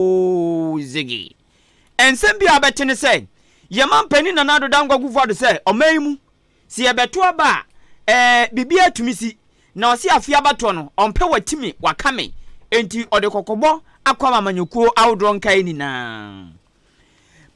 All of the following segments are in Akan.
Ziggy. Nsɛm bi a wobɛte ne sɛ, yɛn manpanin Nana Addo Dankwa Kufuor-Addo sɛ ɔman yi mu, sɛ yɛbɛto aba a, ɛɛ, biribiara tumi si. Na ɔse afei abatoɔ no, ɔmpɛ watimi waka me. Enti ɔde kɔkɔbɔ akɔ ama amanyɔkuo ahodoɔ nkaeɛ nyinaa.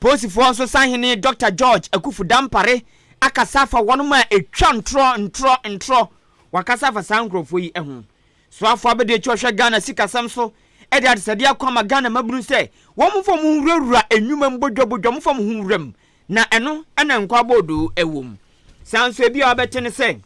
Posifoɔ nso Sahene Dɔkta George Akuffo Dampare akasa afa wɔnom a ɛtwa ntorɔ ntorɔ ntorɔ. Wakasa afa saa nkorɔfoɔ yi ho. Soafoɔ abadiakyire a ɔhwɛ Ghana sikasɛm so de adesɛdeɛ ako ama Ghana mmabunu sɛ wɔmfa wɔn ho nwurawura nnwuma mu bodwabodwa wɔmfa wɔn ho nwura mu na ɛno na nkwa aboodoo wɔ mu. Saa nso ebi a wobɛte ne sɛ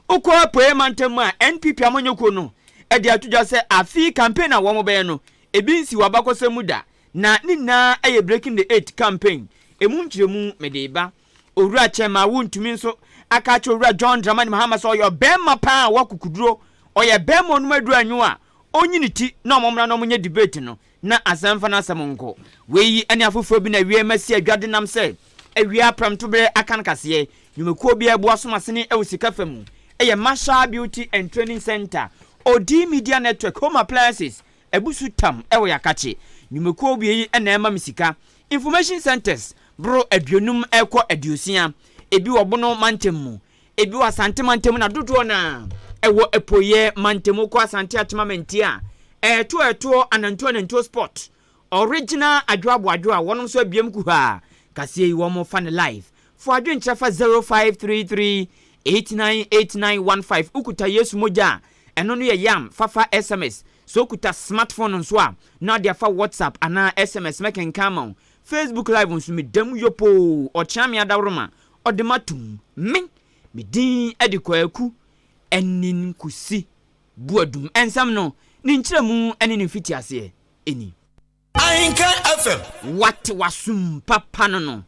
wokɔ Apueɛ mantam mu a NPP amanyɔkuo no de ato dwa sɛ afe yi campaign a wɔbɛyɛ no ebi nsi wɔ abakɔsɛm mu da na ne nyinaa yɛ breaking the eight campaign emu nkyerɛmu mede reba Owura Kyerema wontumi nso aka akyerɛ Owura John Dramani Mahama sɛ ɔyɛ ɔbɛɛma paa a ɔwɔ akokoduro, ɔyɛ bɛɛma a ɔnom aduro anwo a ɔnyi ne ti na ɔmo mmra na ɔmo nyɛ debate no na asan mfa n'asɛm nkɔ. Wei yi ɛne afoforɔ bi na Awia Mma si adwa denam sɛ Awia Aprɛmtoberɛ aka no kaseɛ. Nnwumakuo biara bu asom asene wɔ sika fa mu yɛ Marshall Beauty and Training Centre, Odii Media Network, Home Appliances, Abusu Tam wɔ Yakakye. Nnwumakuo wie yi na ɛma me sika. Information centres boro aduonum rekɔ aduosia, ebi wɔ Bono mantam mu, ebi wɔ Asante mantam mu na dodoɔ no ara ɛwɔ Apueɛ mantam. Wokɔ Asante Atema Mantia a, ɛɛtoɔ ɛtoɔ Anantuo Anantuo spot, original Adwoabo Adwo a wɔnom nso abiam kuhaa kaseɛ yi wɔn fa no live. Fo adwenkyerɛ fa 0533 898915 Wokuta Yesu mogya a Ɛno no yɛ yam fa fa sms. Sɛ okuta smart phone nso a, na ɔde afa WhatsApp anaa sms mɛkenkan ama wo. Facebook live nso me da mu yopoo, ɔkyea me adaworoma, ɔde matom. Me, me din de Kwaku Anin Kusi Boadum. Nsɛm no, ne nkyerɛmu ne ne mfitiaseɛ ni. Ahenkan FM. Wate w'asom papa no no.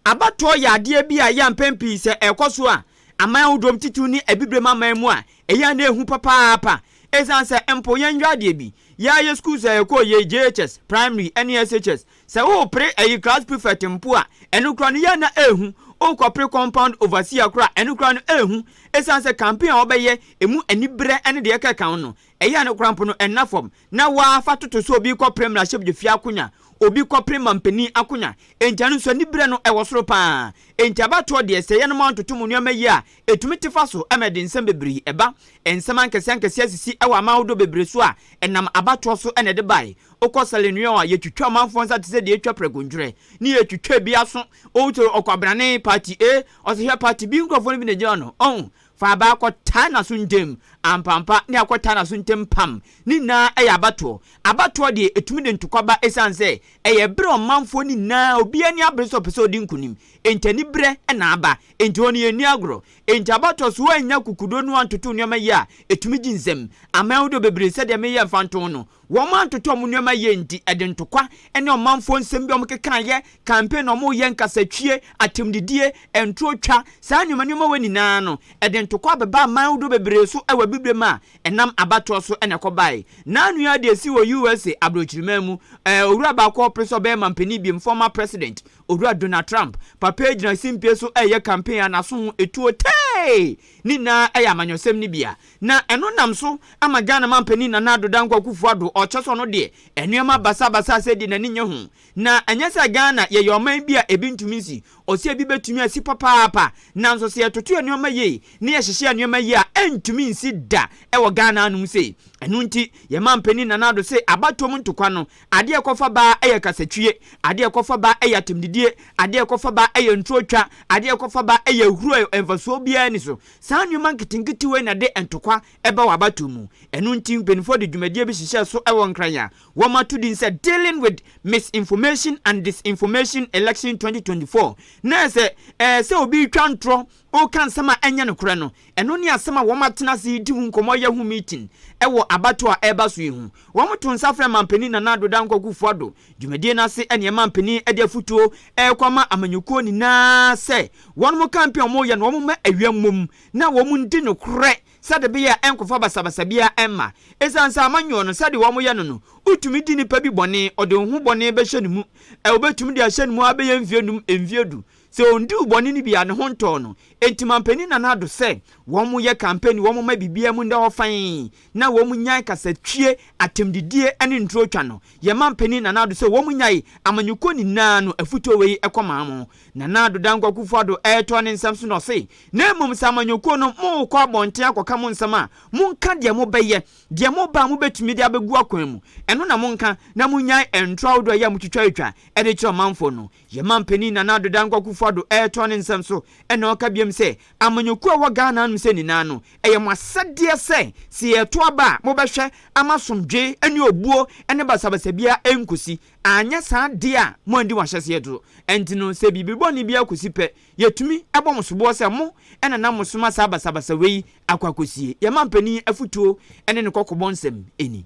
Abatoɔ yɛ adeɛ bi a ɛyɛ a mpɛn pii sɛ ɛrekɔ so a, aman ahodoɔ mu titiriw ne Abibirem aman mu a, ɛyɛ a na ɛhu papaapa. Esiane sɛ mpo yɛn nhwɛ adeɛ bi, yɛn ara yɛn sukuus a yɛkɔɔ yei, JHS, Primary, ne SHS, sɛ worepere ayi class prefect mpo a, ɛno koraa no yɛn na ɛrehu, worekɔpere compound overseer koraa a, ɛno koraa no ɛrehu, esiane sɛ campaign a wɔbɛyɛ, ɛmu aniberɛ ne deɛ ɛkeka ho no, Ɛyɛ a no kora mpo no ɛnna fam na wɔafa toto sɛ obi rekɔpere mmarahyɛbdwafie akonya, obi kɔpere mampanin akonya. Enti ɛno nso anibere no ɛwɔ soro pa ara. Enti abatoɔ deɛ sɛ yɛnom antoto mu nneɛma yie a ɛtumi te fa so ma ɛde nsɛm bebree ɛba. Nsɛm ankɛseɛ ankɛseɛ asisi wɔ aman ahodoɔ bebree so a ɛnam abatoɔ so na ɛde baeɛ. Wokɔ Sierra Leone a yɛtwitwa amanfoɔ nsa te sɛ deɛ yɛtwa prɛko ntwerɛ ne yɛtwitwa ebi aso. Wohwɛ ɔkwabrane, party A, ɔsɛ hwɛ party B nkurɔfoɔ no bi na ɛgyina hɔ no. Ɔho? Fa aba kɔtaa n'aso ntam, ampampa ne akɔtaa n'aso ntam pam, ne nyinaa yɛ abatoɔ. Abatoɔ deɛ ɛtumi de ntɔkwa ba ɛsiane sɛ ɛyɛ ɛberɛ a ɔmanfoɔ no nyinaa obiara ani abere sɛ ɔpɛ sɛ ɔdi nkonim, enti aniberɛ na aba, enti wɔn yɛnni agorɔ. Enti abatoɔ so wɔannya kukudo na wɔantoto nneɛma yie a ɛtumi gye nsam. Aman ahodoɔ bebree sɛdeɛ meyɛ mfa ntoo no, Wɔantotɔ wɔn nneɛma yie nti, ɛde ntokwa ne ɔmanfoɔ nsɛm bi a wɔkekaeɛ, campaign a wɔreyɛ, nkasatwie, atemdidie, ntorotwa, saa nneɛma nneɛma wei nyinaa no, ɛde ntokwa bɛbaa aman ahodoɔ bebree so wɔ Abibirem a ɛnam abatoɔ so na ɛkɔbaeɛ. Naa nua deɛ ɛsii wɔ USA aborɔkyiriman mu, ɛɛ owura baako a ɔpere sɛ ɔbɛyɛ mampanin biom, former president, Owura Donald Trump, papa yi gyina simpie so reyɛ campaign a n'aso ho tuo tee! Ne nyinaa yɛ amanyɔsɛm no bi a na ɛno nam so ama Ghana manpanin Nana Addo Dankwa Akuffo Addo ɔkyɛ sɛ ɔno deɛ nnoɔma basaa basaa sɛɛ deɛ n'ani nyɛ ho. Na ɛnyɛ sɛ Ghana yɛyɛ ɔman bi a ebi ntumi nsi, ɔsɛ ebi bɛtumi asi papaapa nanso sɛ yɛtoto nnoɔma yie na yɛhyehyɛ nnoɔma yie a ɛntumi nsi da wɔ Ghana anom sei. Ɛno nti yɛn manpanin Nana Addo se abatoɔ mu ntokwa no Adeɛ ɛkɔ fa ba yɛ kasatwie, adeɛ ɛkɔ fa ba yɛ atɛmdidie, adeɛ ɛkɔ fa ba yɛ ntuotwa, adeɛ ɛkɔ fa ba yɛ ahuro a mfasoɔ biara nni so. Saa nneɛma nketenkete wei na ɛde ntɔkwa ba wɔ abatoɔ mu. Ɛno nti mpaninfoɔ de dwumadie bi hyehyɛɛ so wɔ Nkran a wɔato din sɛ Dealing with Misinformation and Disinformation Election 2024 na ɛsɛ sɛ obi twa ntorɔ Woka nsɛm a ɛnyɛ nokorɛ no. Ɛno ne asɛm a wɔatena ase redi ho nkɔmmɔ ayɛ ho meeting wɔ abatoɔ a ɛreba so yi ho. Wɔtoo nsa frɛɛ Manpanin Nana Addo Dankwa Kufuor-Addo. Dwumadie no ase ne Manpanin de afotuo rekɔ ama amanyɔkuo nyinaa sɛ wɔnom campaign a wɔreyɛ no wɔmma awia mmom na wɔndi nokorɛ sɛdebeɛ a ɛnkɔfa basabasa biara mma. Ɛsiane sɛ amanyɔɔ no sɛdeɛ wɔyɛ no no, wotumi di nipa bi bɔne, ɔde wo ho bɔne bɛhyɛ ne mu, ɛwɔ bɛtumi de ahyɛ ne mu ara bɛyɛ mfeɛ num, mfeɛ du. Sɛ ondiw bɔne no bi a ne ho ntɔɔ no. Enti Manpanin Nana Addo sɛ wɔnyɛ campaign wɔn mma biribiara mu nda hɔ fann na wɔn nyae kasatwie, atɛmdidie ne nturo twa no. Yɛ Manpanin Nana Addo sɛ wɔn nyae amanyɔkuo nyinaa no afutuo wei kɔ maa mo. Nana Addo Dankwa Kufuor Addo retɔ ne nsɛm so na ɔse na mmom sɛ amanyɔkuo no mo rekɔ abɔnten akɔka mo nsɛm a mo nka deɛ mo bɛyɛ, deɛ mo ba a mo bɛtumi de abɛgu akwan mu ɛno na mo nka na mo nyae ntoro ahodoɔ a ɛyɛ a mo twitwa twa de kyerɛ ɔmanfoɔ no. Yɛn manpanin Nana Addo Dankwa Kuffo Addo retoa ne nsɛm so na ɔka biom sɛ, Amanyɔkuo a ɛwɔ Ghana anom sɛ nyinaa no, ɛyɛ mo asɛdeɛ sɛ, sɛ yɛreto aba a, mobɛhwɛ ama asomdwee ne obuo ne basabasa biara ɛnkɔsi, anyɛ saa deɛ a moanndi mo ahyɛseɛ so, ɛnti no sɛ biribi bɔne biara kɔsi pɛ, yɛtumi bɔ mo soboɔ sɛ mo na na mosoma saa basabasa wei akɔ akɔsie. Yɛn manpanin afutuo ne ne kɔkɔbɔ nsɛm ni.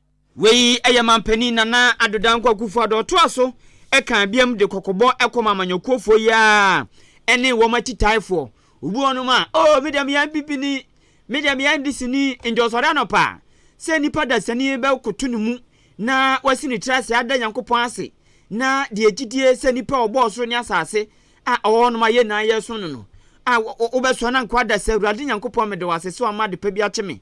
Wei yɛ Manpanin Nana Addo Dankwa Akufo-Addo a ɔtoa so kaa biam de kɔkɔbɔ kɔma amanyɔkuofoɔ yi ara ne wɔn atitaefoɔ. Wobu wɔnom a, Oh, me deɛ meyɛ Abibini, me deɛ meyɛ Ndisini, nti ɔsɔre anɔpa a, sɛ nnipa dasani bɛkoto ne mu na wasi ne tiri ase ada Nyankopɔn ase na deɛ gyidie sɛ Nipa a ɔbɔɔ ɔsoro ne asase a ɔwɔ hɔnom a yɛn nyinaa yɛresom no no a, wobɛsoa no ankoa da sɛ, Awurade Nyankopɔn, meda wo ase sɛ woama adepa bi akye me,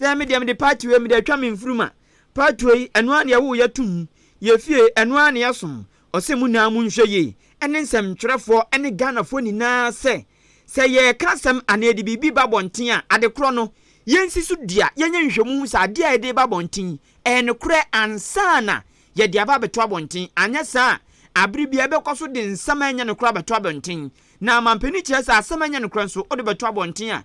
Sɛ me deɛ mede patoe yi, mede atwa me mfurum a, patoe yi, ɛno ara na yɛwoo yɛ tom mu, yɛ fie, ɛno ara na yɛsom. Ɔse mo nyinaa monhwɛ yie ne nsɛmtwerɛfoɔ ne Ghanafoɔ nyinaa sɛ, sɛ yɛreka asɛm anaa yɛde biribi ba abɔnten a, adekorɔ no, yɛnsi so dua, yɛnyɛ nhwehwɛmu nhu sɛ adeɛ a yɛde reba abɔnten yi, ɛyɛ nokorɛ ansa na yɛde aba abɛto abɔnten. Anyɛ saa a, aberɛ biara yɛbɛkɔ so de nsɛm a ɛnyɛ nokorɛ abɛto abɔnten. Na mampanin kyerɛ sɛ asɛm a ɛnyɛ nokorɛ nso, wode bɛto abɔnten a,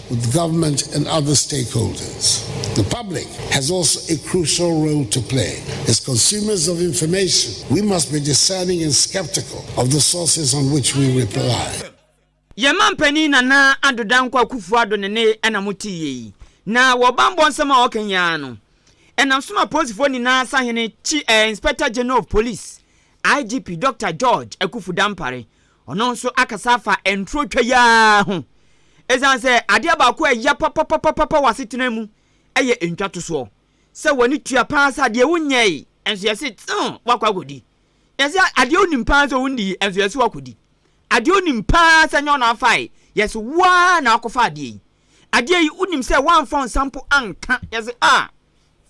With government and other stakeholders, the public has also a crucial role to play. As consumers of information, we must be discerning and skeptical of the sources on which we reply. Yɛn mampanin Nana Addo Dankwa Akufo-Addo ne ne ɛna mo te yei. Na wɔ banbɔ nsɛm a ɔka yi ara no, ɛnam so na Apolisifoɔ nyinaa Sahene Chi eh, Inspector General of Police, IGP, Dɔkta George Akuffo Dampare, Ɔno nso akasa afa ntorotwa yi ara ho. Esiane sɛ adeɛ baako a ɛya papapapapa wɔ asetena mu yɛ ntwatosoɔ, sɛ w'ani tua paa sɛ adeɛ wonyɛe nso yɛse tsew wakɔ akɔdi. Yɛse adeɛ wonim paa sɛ wondii nso yɛse wakɔdi. Adeɛ wonim paa sɛ nyɛ wo na wofae, yɛse wo ara na wokɔfa adeɛ yi. Adeɛ yi wonim sɛ woamfa wo nsa mpo anka, yɛse ah!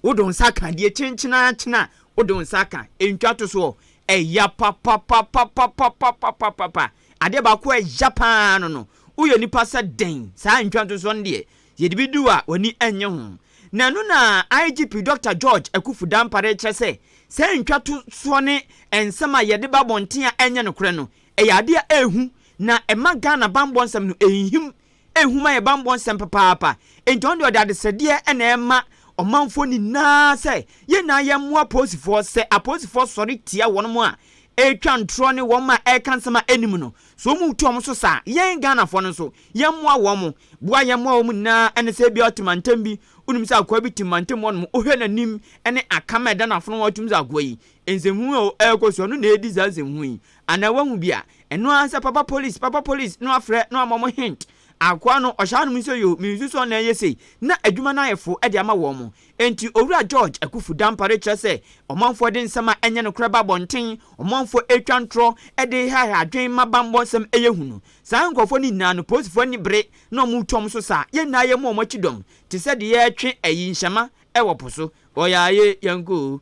Wode wo nsa ka deɛ kyenkyenakyen a wode wo nsa ka, ɛntwa to soɔ. Ɛya papapapapapapapapa. Adeɛ baako a ɛya pa ara no no, woyɛ nipa sɛ dɛn? Saa ntwantosoɔ no deɛ, yɛde bi di wo a, w'ani nnye ho. Na ɛno na IGP Dɔkta George Akuffo Dampare rekyerɛ sɛ, saa ntwatosoɔ ne nsɛm a yɛde ba abɔnten a ɛnyɛ nokorɛ no, ɛyɛ adeɛ a ɛyɛ hu, na ɛma Ghana bammɔ nsɛm no ɛnhinhim Nhu ma yɛ bammɔ nsɛm papaapa. Enti ɔno deɛ ɔde adesrɛdeɛ na ɛrema ɔmanfoɔ nyinaa sɛ yɛn nyinaa yɛmmoa apolisifoɔ. Sɛ apolisifoɔ sɔre tia wɔn a ɛretwa ntorɔ ne wɔn a ɛreka nsɛm a ɛnni mu no, sɛ wɔn retu wɔn so saa a, yɛn Ghanafoɔ no nso, yɛmmoa wɔn. Boa a yɛmmoa wɔn nyinaa ne sɛ ebia ɔte mantam bi, wonim sɛ akoa bi te mantam hɔnom, wohwɛ n'anim ne akam a ɛda n'afono ho a, wotumi sɛ akoa yi, nsɛmhunu a ɛrekɔ so no na ɛredi saa nsɛmhunu yi. Ana wahu bi a ɛno ara sɛ papa police papa police no afrɛ no ama wɔn hint akoa no ɔhyɛ anom nso yoo me nsusu ɔna ɛyɛ sei na adwuma no ayɛ fo de ama wɔn enti owura George Akufu Dampare kyerɛ sɛ ɔmanfoɔ de nsɛm a ɛnyɛ nokorɛ ba abɔnten ɔmanfoɔ ɛretwa ntorɔ de rehaeha adwene ma bammɔ nsɛm ɛyɛ hu no saa nkorɔfoɔ no nyinaa no polisifoɔ ani bere na wɔn retu wɔn so saa yɛn nyinaa yɛmmɔ wɔn akyi dɔm te sɛ deɛ yɛretwe ayi nhyɛma wɔ po so ɔyaa ye yɛnkɔ oo.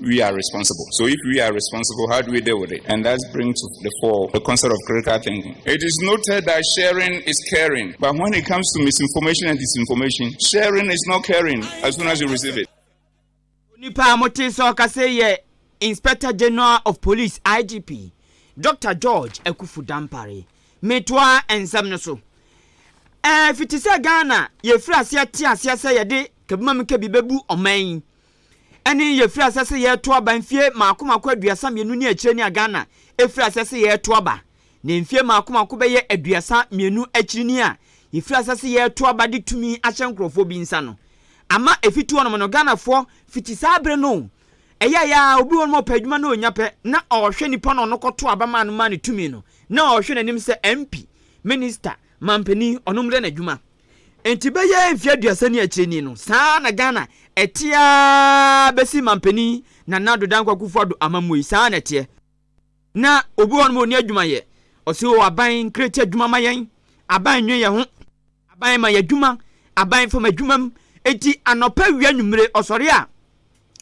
we are responsible. So if we are responsible, how do we deal with it? And that brings to the fore the concept of critical thinking. It is noted that sharing is caring, but when it comes to misinformation and disinformation, sharing is not caring as soon as you receive it. Nipa mote sɛ ɔkasɛ yɛ Inspector General of Police IGP Dr. George Akufu Dampare metoa nsɛm no so. Ɛfiti sɛ Ghana yɛfiri aseɛ te aseɛ sɛ yɛde kabimamika bi bɛbu ɔman yi Ɛne yɛfiri asɛ sɛ yɛreto aba mfie mako mako aduasa mmienu ne akyire ni a Ghana ɛfiri asɛ sɛ yɛreto aba na mfie mako mako bɛyɛ aduasa mmienu akyiri ni a yɛfiri asɛ sɛ yɛreto aba de tumi ahyɛ nkorɔfoɔ bi nsa no ama ɛfiti hɔ nom no Ghanafoɔ fiti saa bere no ɛyɛeɛ a obi wɔ nom a ɔpɛ adwuma na ɔnya pɛ na ɔhwɛ nipa no ɔno kɔto aba maa no maa no tumi no na ɔhwɛ n'anim sɛ MP, Minister, Mampanin ɔnom dɛ n'adwuma. Enti bɛyɛ mfe aduasa ni akyire ni no, saa ara na Ghana ɛte ara bɛsi Manpanin Nana Addo Dankwa Kufuor Addo amammuo yi, saa ara na ɛteɛ. Na obi wɔ hɔ nom a ɔnni adwuma yɛ, ɔse oo aban create adwuma ma yɛn, aban nnwen yɛn ho, aban ma yɛn adwuma, aban fa m'adwuma mu, enti anɔpa awia anwummere ɔsɔre a,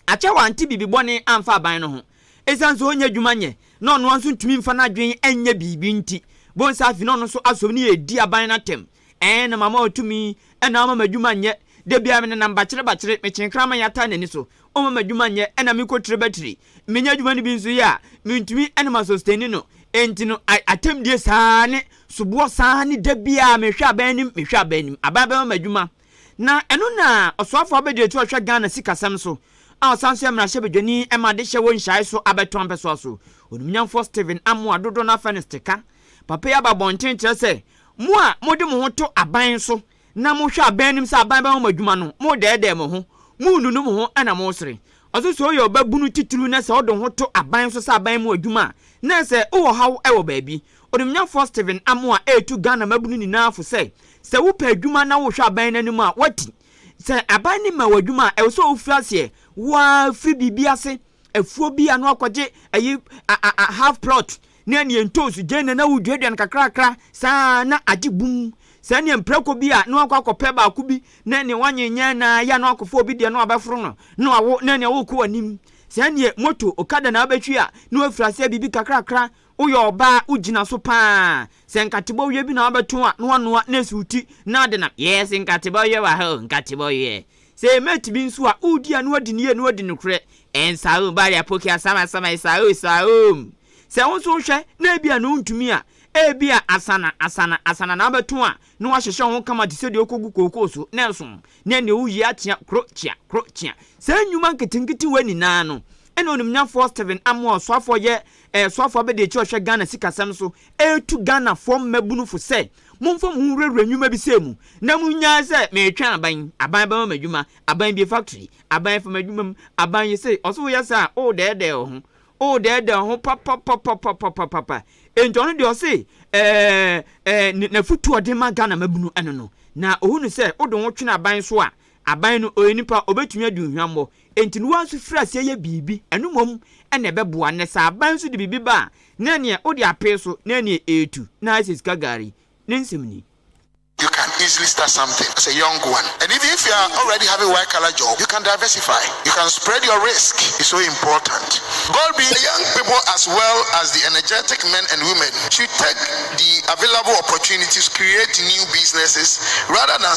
akyɛ wante biribi bɔne amfa aban no ho. Esiane sɛ ɔnnya adwuma nyɛ na ɔno ara nso ntumi mfa n'adwene nyɛ biribi nti, Bonsa afi ne ɔno nso asɔre no redi aban no atɛm. Ɛɛ, na mama ɔto me, ɛna ɔmma m'adwuma nyɛ. Da biara menenam bakyere bakyere, mekyere kraman yi ataa n'ani so, ɔmma m'adwuma nyɛ, ɛna mekɔtire batiri. Menya adwuma no bi nso yɛ a, mentumi ne ma sɔstani no. Enti no, a atɛmdie saa ne soboɔ saa ne da biara mehwɛ aban anim, mehwɛ aban anim, aban bɛma m'adwuma. Na ɛno na Ɔsoafoɔ Abedri Atuo a ɔhwɛ Ghana sikasɛm so a ɔsan nso yɛ mmarahyɛbadwani ma adehyeɛ wɔ nhyiae so abɛto ampɛsoa so Onimnyamfoɔ Stephen Amoah dodoɔ no afɛ no steka Papa yi aba abɔnten kyerɛ sɛ mo a mode mo ho to aban so na mohwɛ aban anim sɛ aban bɛma mo adwuma no modɛɛdɛɛ mo ho monnunu mo ho na mosere Ɔse sɛ woyɛ ɔbabunu titiriw na sɛ wode wo ho to aban so sɛ aban mu adwuma a na sɛ wowɔ haw wɔ baabi Onimnyamfoɔ Stephen Amoah retu Ghana mmabunu nyinaa fo sɛ, sɛ wopɛ adwuma na worehwɛ aban no anim a, woati. Sɛ aban no mma wo adwuma a, ɛwɔ sɛ wofiri aseɛ, wo ara firi biribi ase, afuo bi ano akɔgye ayi, a, a, a, half plot, ne ɛneɛ ntoosi gyeene na woduaduane kakrakra saa ara na agye bum. Sɛ ɛneɛ mprako bi a, na woakɔ akɔpɛ baako bi na ɛneɛ woanyenyɛn na ayɛ a na woakɔfa obi deɛ na wabɛforo no na wawo na ɛneɛ worekɔ w'anim. Sɛ ɛneɛ moto, okada na wobɛtwi a, na woafiri aseɛ biribi kakrakra Woyɛ ɔbaa a wogyina so paa. Sɛ nkate bɔweɛ bi na wobɛto a na woanoa na asi wo ti na wode nam. Yes, nkate bɔweɛ wɔ ha o, nkate bɔweɛ. Sɛ ɛyɛ mate bi nso a, wodi a na woadi no yie na woadi nokorɛ. Ɛnsa o, bari apoki asama asama ɛsa o, ɛsa o. Sɛ wo nso wohwɛ na ebia na wontumi a, ebia asana, asana, asana na wobɛto a na woahyehyɛ wo ho kama te sɛ deɛ wokɔgu kookoo so na ɛsom na ɛnneɛ wowie akyea kro kyea, kro kyea. Saa nnwuma nketenkete wei nyinaa no, ɛna onimnyafoɔ Stephen Amoore Suafoɔ yɛ Ɛyɛ soafoɔ abadiakyire a ɔhwɛ Ghana sikasɛm so retu Ghanafoɔ mmabunu fo sɛ, Momfa mo ho nwurawura nnwuma bi sɛɛ mu na monnyae sɛ meretwɛn aban, aban bɛma me adwuma, aban bue factory, aban fa m'adwuma mu, aban yɛ sei. Ɔse woyɛ saa a, woredɛɛdɛɛ wo ho. Woredɛɛdɛɛ wo ho papapapapapapapa. Enti ɔno deɛ ɔse ɛɛ, ɛɛ, n'afotuo a ɔde rema Ghana mmabunu no no, na ɔhunu sɛ wode wo ho twene aban so a, Aban no, ɔyɛ nipa a, ɔbɛtumi adi ohuammɔ. Enti no, woa nso firi aseɛ yɛ biribi. Ɛno mmom na ɛbɛboa. Nnɛ, sɛ aban nso de biribi ba a, na ɛneɛ wode apee so, na ɛneɛ ɛretu, na ayɛ sɛ sika gari. Ne nsɛm ni. You can easily start something as a young one and even if you are already having white collar job you can diversify you can spread your risk is so important God be young people as well as the energetic men and women should take the available opportunities create new businesses rather than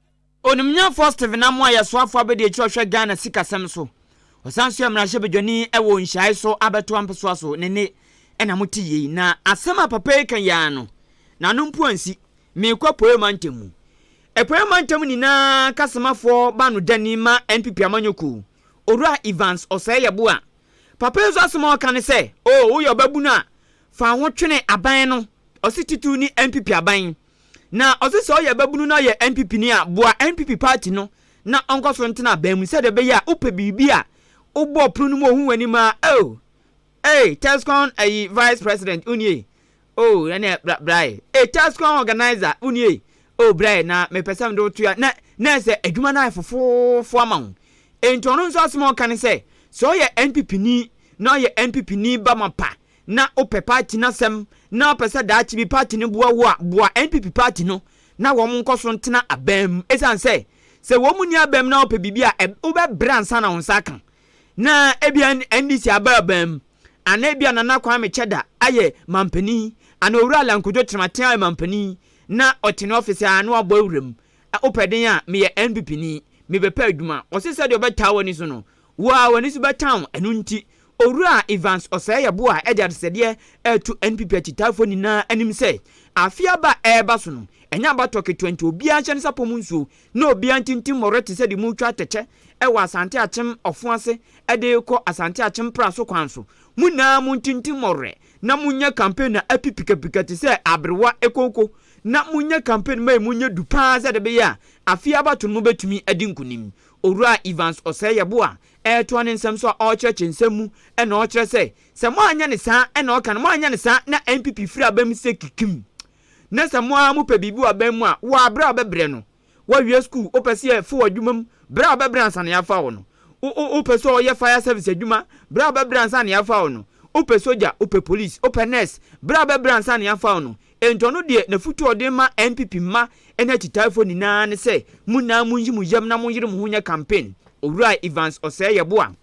Onimnyafoɔ Stephen Amoah yɛ soafoɔ abadiakyire a ɔhwɛ Ghana sikasɛm so. Ɔsan nso yɛ mmarahyɛbadwani wɔ nhyiae so abatoa mpesoa so ne nne na mo te yei. Na asɛm a papa yi ka yi ara no, n'ano mpo ansi. Meekɔ Apueɛ Mantam mu. Apueɛ Mantam nyinaa kasomafoɔ banodani ma NPP amanyɔkuo, Owura Evans Ɔsɛe Yeboah. Papa yi nso asɛm a ɔka ne sɛ, oh, woyɛ ɔbabunu a, fa wo ho twene aban no, ɔse titiriw ne NPP aban. Na ɔse sɛ ɔyɛ babunu na ɔyɛ NPP ni a, boa NPP party no na ɔnkɔ so ntena aban mu sɛdeɛ ɛbɛyɛ a wopɛ biribi a wobɔ pono no mu ɔhu w'anim aa oh Ei Tescon ayi vice president wo nie oh ɛneɛ bra bra ei ei Tescon organizer wo nie oh bra ei na mepɛ sɛ mede wo toa na na ɛsɛ adwuma no ayɛ fofoofo ama wo Enti ɔno nso asɛm a ɔka ne sɛ sɛ ɔyɛ NPP ni na ɔyɛ NPP ni ba mapa na wopɛ party no asɛm na wopɛ sɛ daakye bi party no boa wo a, boa NPP party no na wɔn nkɔ so ntena abam mu. Esiane sɛ, sɛ wɔn nni abam mu na wopɛ biribi a, ɛb, wobɛbrɛ ansa na wo nsa aka. Na ebia NDC aba abam mu, anaa ebia Nana Kwame Kyɛda ayɛ manpanin, anaa Owura Alan Kojo Kyerematen ayɛ manpanin, na ɔte ne ɔfese aa na wabɔ awura mu. Ɛ, wopɛ den a, meyɛ NPP ni, mebɛpɛ adwuma. Wɔse sɛdeɛ ɔbɛtaa w'ani so no, Wo ara w'ani so bɛtan wo. Ɛno nti, Owura Evans ɔsɛe ɛbo a ɛde adesɛdeɛ reto NPP akyitaafoɔ nyinaa anim sɛ, afe aba a ɛreba so no, ɛnyɛ abatoɔ ketewa nti obiara nhyɛ ne sapɔ mu nsuo na obiara ntintim mmɔwerɛ te sɛ deɛ moretwa atɛkyɛ wɔ Asante Akyem ɔfo ase de rekɔ Asante Akyem pra so kwan so. Mo nyinaa montintim mmɔwerɛ na monyɛ campaign a api pikapika te sɛ aberewa kooko na monyɛ campaign ma emu nyɛ du pa ara sɛdeɛ ɛbɛyɛ a afe yi abatoɔ no mobɛtumi adi nkunim Owura Evans Osei-Yeboah a ɛretoa ne nsɛm so a ɔrekyerɛkyerɛ nsɛm mu na ɔkyerɛ sɛ, sɛ moanyɛ no saa na ɔka no, moanyɛ no saa na NPP firi aba mu sɛ kikim. Na sɛ mo ara mopɛ biribi wɔ aban mu a, wo ara brɛ a wobɛbrɛ no. Woawie sukuu, wopɛ sɛ yɛfa wo adwuma mu, brɛ a wobɛbrɛ ansa na yɛafa wo no. Wo, wo, wopɛ sɛ ɔyɛ fire service adwuma, brɛ a wobɛbrɛ ansa na yɛafa wo no. Wopɛ sogya, wopɛ police, wopɛ nurse, brɛ a wobɛbrɛ ansa na yɛafa wo no. Enti ɔno deɛ n'afotuo a ɔde rema NPP mma ne akyitaafoɔ nyinaa ne sɛ, mo nyinaa monyi mo yam na monyere mo ho nyɛ campaign. Owura Evans Ɔsɛe-Yeboah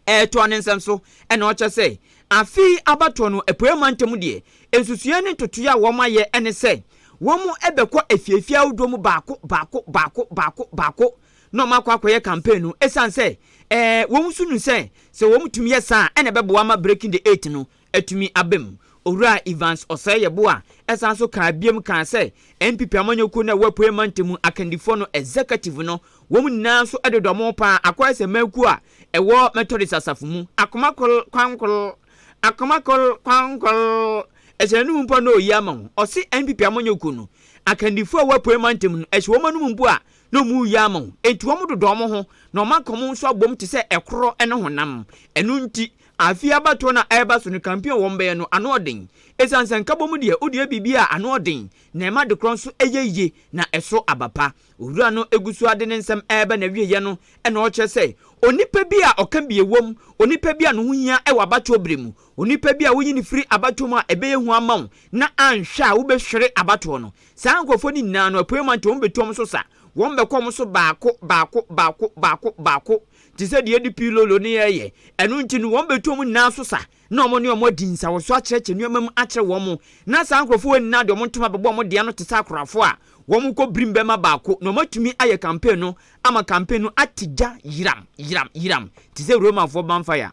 retoa ne nsɛm so na ɔkyerɛ sɛ, afe yi abatoɔ no Apueeɛ mantam deɛ, nsusuiɛ ne ntotoeɛ a wɔayɛ ne sɛ, wɔbɛkɔ afiefie ahodoɔ mu baako baako baako baako baako na wɔakɔ akɔyɛ campaign no, ɛsiane sɛ wɔn nso nim sɛ, sɛ wɔtumi yɛ saa a, ɛna ɛbɛboa ama Breaking the Eight no atumi aba mu. Owura Evans Osei-Yeboah san nso kaa biom kaa sɛ NPP amanyɔkuo no a ɛwɔ Apueɛ Mantamu akandifoɔ no, Executive no, wɔn nyinaa nso de dɔm paa akɔyɛ sɛ mmakuo a ɛwɔ Methodist asafo mu. Akoma kor, kwan kor, akoma kor, kwan kor, ɛhyɛ n'anom mpo a na ɔyi ama wɔn. Ɔse NPP amanyɔkuo no akandifoɔ a ɛwɔ Apueɛ Mantamu no, ɛhyɛ wɔn anom mpo a na wɔn reyi ama wɔn. Enti wɔn dodɔ wɔn ho na wɔn akɔm nso abom te sɛ ɛkorɔ ne honam. Ɛno nti Afe abatoɔ no a ɛreba so no campaign a wɔbɛyɛ no ano ɔden ɛsiane sɛ nkabɔmu deɛ wode yɛ biribi a ano ɔden na ɛma adekorɔ nso yɛ yie na ɛso aba pa. Owura no gu so ara de ne nsɛm reba n'awieɛ no na ɔrekyerɛ sɛ onipa bi a ɔka bi wɔ mu, onipa bi a ne ho hia wɔ abatoɔ berɛ mu, onipa bi a woyi no firi abatoɔ mu a ɛbɛyɛ hu ama wo na anhwɛ a wobɛhwere abatoɔ no. Saa nkorɔfoɔ no nyinaa no Apueɛ Mantam bɛtu wɔn so sa, wɔbɛkɔ wɔn so baako baako baako baako baako te sɛ deɛ DP Lolo ne yɛn reyɛ, ɛno nti no wɔn bɛtu wɔn nyinaa so sa na wɔn ne wɔn adi nsawɔso akyerɛkyerɛ nneɛma mu akyerɛ wɔn, na saa nkorɔfoɔ wei nyinaa de wɔn ntoma bɛbɔ wɔn deɛ ano te sɛ akorafoɔ a wɔn kɔ birim bɛma baako na wɔn atumi ayɛ campaign no ama campaign no ate gya yiram yiram yiram te sɛ Romafoɔ bonfire.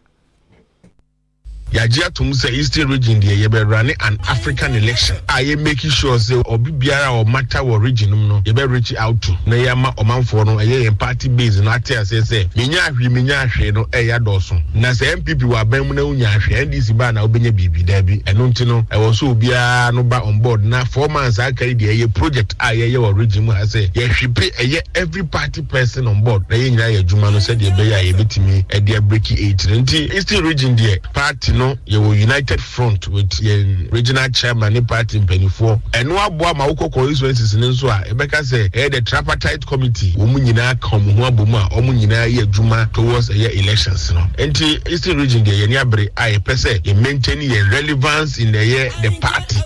Yagye atom sɛ Eastern Region deɛ yɛbɛ runne an African election a yɛ make sure sɛ obi biara a ɔmata wɔ region nom no yɛbɛ reach out to na yɛama ɔmanfoɔ no ɛyɛ yɛn party base no ate aseɛ sɛ menyaa hwee menyaa hwee no ɛyɛ adɔɔso na sɛ NPP wɔ aban mu na wonyaa hwee NDC ba a na wobɛnya biribi daabi ɛno nti no ɛwɔ sɛ obiara no ba on board na four months a aka yi deɛ ɛyɛ project a yɛyɛ wɔ region mu ha sɛ yɛhwepe ɛyɛ every party person on board na yɛn nyinaa yɛ adwuma no sɛdeɛ ɛbɛyɛ a yɛbɛtumi de abreki eiti no nti Eastern region deɛ party no yɛwɔ united front with yɛn regional chairman ne party mpanimfoɔ ɛno aboa ma wokɔ constituencies no nso a ɛbɛka sɛ ɛyɛ the tripartite committee wɔn nyinaa ka wɔn ho abom a wɔn nyinaa yɛ adwuma towards ɛyɛ elections no nti Eastern region deɛ yɛn ani abere a yɛpɛ sɛ yɛ maintain yɛn relevance in ɛyɛ the party.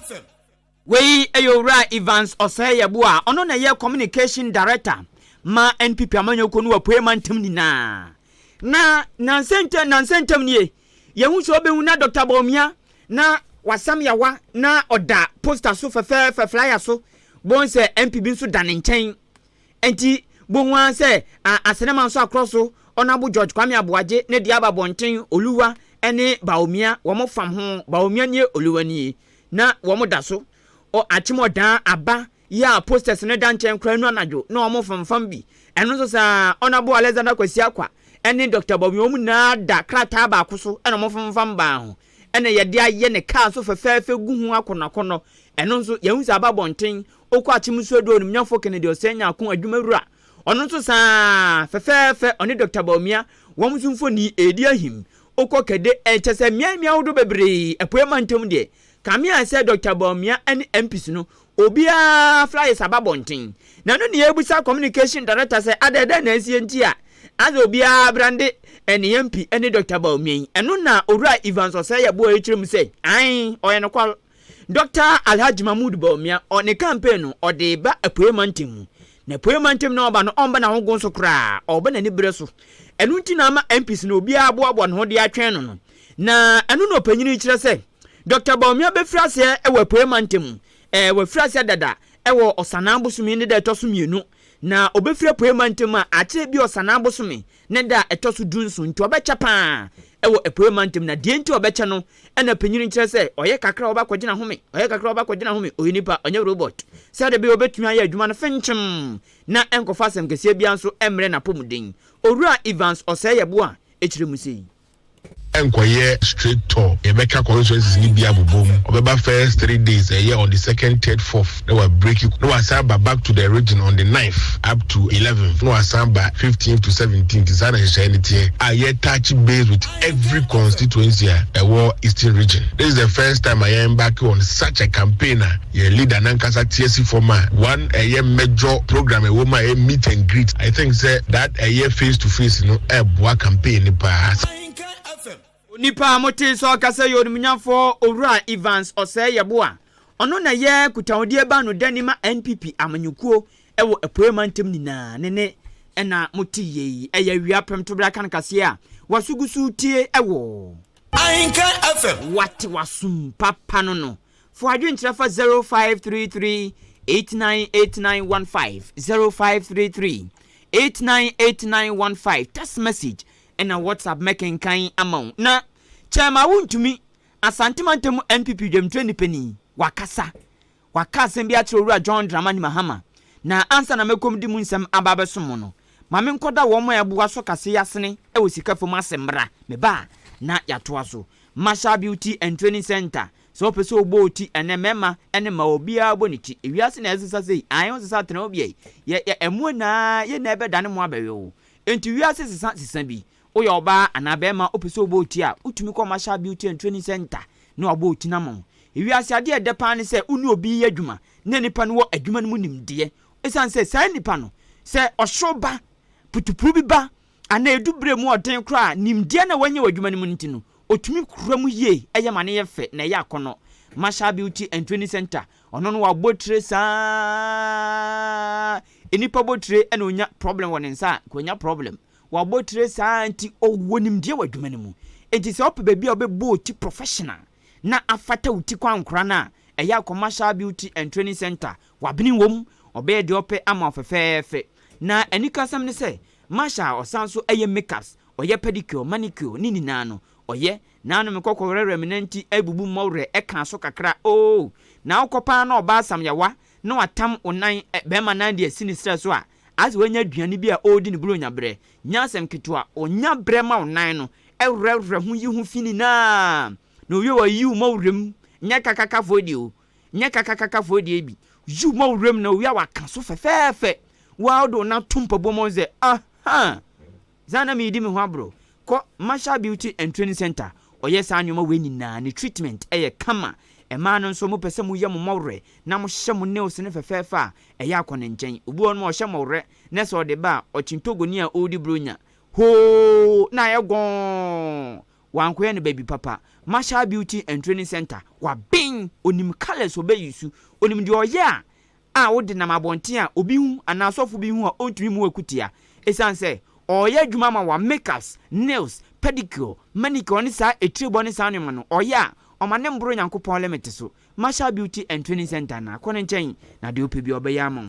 Wei yɛ Owura Evans Osei-Yeboah a ɔno na ɛyɛ Communication Director ma NPP amanyɔkuo no wɔ Apueɛ Mantam nyinaa. Na nansa ntam nansa ntam nie, yɛhu sɛ ɔbɛhu na Dɔkta Bawumia na wasam yawa na ɔda poster so fɛfɛɛfɛ, flyer so, bohu sɛ MP bi nso da ne nkyɛn. Ɛnti bohu ara sɛ a Asenema nso akorɔ so, Honourable George Kwame Aboagye ne deɛ aba abɔnten, Oluwa ne Bawumia, wɔn fam ho, Bawumia nie, Oluwa nie. Na wɔn da so ɔ akyem ɔdaa aba yi a posters no da nkyɛn koraa nu anadwo na wɔn femfam bi. Ɛno nso saa, Honourable Alexander Kwasi Akwah ne Doctor Bawumia wɔn nyinaa da krataa baako so na wɔn femfam baa ho na yɛde ayɛ ne car nso fɛfɛɛfɛ gu ho akɔnnɔakɔnnɔ. Ɛno nso, yɛahu sɛ aba abɔnten, wokɔ akyem nso adu Onimnyafo Kennedy Osei Nyarko, Adwumawura, Ɔno nso saa ara, fɛfɛɛfɛ, ɔne Dɔkta Bawumia, wɔn nso mfoni redi ahim. Wokɔ Kɛde a, kyerɛ sɛ mmeae mmeae ahodoɔ bebree, Apueɛ mantam deɛ, kame a sɛ Dɔkta Bawumia ne MPs no, obiara flyers aba abɔnten. Na ɛno na yɛrebisa Communication Director sɛ adɛn, dɛn na asie nti a asɛ obiara brande ne MP ne Dɔkta Bawumia yi? Ɛno na Owura Evans Ɔsɛe Yeboah rekyerɛ mu sɛ, ae, ɔyɛ nokware. Dɔkta Alhaji Mahmood Bawumia, ɔ ne campaign no, ɔde ba Apueɛ Mantam mu. Na Apueɛ Mantam no a ɔba no, ɔmba n'ahogoon so koraa, ɔba n'aniberɛ so. Ɛno nti na ama MPs no, obiara aboaboa ne ho de atwɛn no no. Na ɛno na ɔpanyin yi kyerɛ sɛ, Dɔkta Bawumia bɛfiri aseɛ wɔ Apueɛ Mantam mu. Ɛɛ, wafiri aseɛ dada wɔ Ɔsanaa bosome ne da a ɛtɔ so mmienu. Na ɔbɛfiri Apueɛ Mantam a, akyerɛ bi Ɔsanaa bosome Ne da a ɛtɔ so dunson nti ɔbɛkyɛ paa wɔ apueɛ mantam, na deɛ nti a ɔbɛkyɛ no na panyin no kyerɛ sɛ, ɔyɛ kakra a ɔba kɔgyina home, ɔyɛ kakra a ɔba kɔgyina home, ɔyɛ nipa, ɔnyɛ robɔt, sɛdeɛ ɛbɛyɛ a ɔbɛtumi ayɛ adwuma no fenkyem na ɛnkɔfa asɛm kɛseɛ biara nso mmrɛ n'apɔmuden. Owura Evans Ɔsɛeɛbo a ɛkyerɛ mu sei. nkɔyɛ straight tour yɛbɛka constituencies no bi abobɔ mu ɔbɛba first three days ɛyɛ on the second third fourth na wa break na wasan aba back to the region on the ninth up to eleventh na wasan aba fifteenth to seventeenth saa na nhyehyɛeɛ no teɛ a yɛ touch base with every constituency a ɛwɔ eastern region this is the first time a yɛn embark on such a campaign a Yɛ leader nankasa tia si fɔm a one ɛyɛ mmɛdjɔ program ɛwɔ mu a ɛyɛ meet and greet I think sɛ that ɛyɛ face to face no ɛboa campaign no paa. Onipa a motee sɛ ɔkasa yɛ Onimnyamfoɔ Owura Evans Osei Yeboah. Ɔno na ɛyɛ Kutahodie Bano Dani ma NPP amanyɔkuo wɔ Apueɛ Mantam nyinaa. Ne nne na moteeɛ yi, ɛyɛ awia pem tobra kan kaseɛ a waso gu so retie wɔ. Ahinkan FM. Wate w'asom papa no no. Fa w'adwene kyerɛ fa 0533898915, 0533898915, text message ɛna WhatsApp mɛkenkan ama wo na Kyɛrma Wontumi, Asante mantam mu NPP dwamtrɛ nnipanin, wakasa. Waka asɛm bi akyerɛ Owura John Dramani Mahama na ansa na mɛkɔm de mu nsɛm aba abɛsom mo no, ma menkɔda wɔn a ɛboa so kaseɛ asene wɔ sika fam ase mmra, meba a na yɛatoa so. Marshall Beauty and Training Centre, Sɛ wopɛ sɛ wobɔ wo ti ɛnnɛ, mmarima ne mmaa obiara bɔ ne ti. Wiase na ɛresesa sei, ae wosesa tena wo bea yi, yɛ yɛ ɛmoa nyinaa yɛ na ɛbɛdane mo abɛwe wo. Enti wiase sesa sesa bi, woyɛ ɔbaa anaa barima wopɛ sɛ wobɔ wo ti a, wotumi kɔ Marshall Beauty and Training Centre na wɔabɔ wo ti no ama wo. Wiase adeɛ a ɛdɛ paa ne sɛ wo ne obi reyɛ adwuma na nipa no wɔ adwuma no mu nimdeɛ. Ɛsiane sɛ saa nipa no, sɛ ɔhyew ba, putupuru bi ba, Anaa edu bere mu ɔden koraa a, nimdeɛ no a wanya wɔ adwuma no mu no nti no, otumi kura mu yie, ɛyɛ ma no yɛ fɛ, na ɛyɛ akɔnnɔ. Marshall Beauty and Training Center, ɔno no w'abotire saa ara, nnipa botire na onya problem wɔ ne nsa a, nka onya problem. W'abotire saa ara nti, ɔwɔ nimdeɛ wɔ adwuma no mu. Enti sɛ wopɛ baabi a wobɛbɔ wo ti professional na afata wo ti kɔ ankora no a, ɛyɛ a kɔ Marshall Beauty and Training Center. W'abene wom, ɔbɛyɛ deɛ ɔpɛ ama wo fɛfɛɛfɛ. Na anikasɛm ne sɛ, Marsha a ɔsan so yɛ makeups, ɔyɛ pedicure, manicure, ne nyinaa no, ɔyɛ. Naa no me kɔkɔ werɛwerɛ me nanti abubu mmɔ werɛ ɛkaa so kakra ooh naa wokɔ paa na ɔbaa samyawa na watam wo nan eh bɛɛma nan deɛ si ne serɛ so a as wanya aduane bi a ɔɔdi no buronya berɛ nyɛ asɛm ketewa ɔnya berɛ ma wo nan no ɛwerɛwerɛ ho yi ho fi nyinaa na owie wayiyi wo mmɔ werɛ mu nyɛ kakakafoɔ deɛ o nyɛ kakakakafoɔ deɛ bi, Yiw ma wo wuram na owia waka so fɛfɛɛfɛ, wo a wode wo nan to mpaboa mu sɛ, Aha! Saa na meredi me ho aboro. Kɔ Marshall Beauty and Training Centre, wɔyɛ saa nneɛma wei nyinaa ne treatment yɛ kama. Mmaa no nso, mopɛ sɛ moyɛ mo mmɔwerɛ na mohyɛ mo nails no fɛfɛɛfɛ a, ɛyɛ a kɔ ne nkyɛn. Obi wɔ hɔnom a ɔhyɛ mmɔwerɛ na sɛ ɔde ba a, ɔkyen Togoni a ɔredi Buronya, hoo! na ayɛ gɔɔn! Wankɔyɛ no baabi papa. Marshall Beauty and Training Centre, waben, onim colours ɔbɛyi su, onim deɛ ɔyɛ a a wode nam abɔnten a obi hu anaa ɔsɔfo bi hu a ɔntumi mmu wo akutia ɛsiane sɛ ɔreyɛ adwuma ama wo a makeups, nails, pedicure, manicure ne saa atirebɔ ne saa nnoɔma no ɔyɛ a ɔma no mboro Nyankopɔn limit so. Marshall Beauty and Training Centre anaa kɔ ne nkyɛn na deɛ wopɛ biara ɔbɛyɛ ama wo.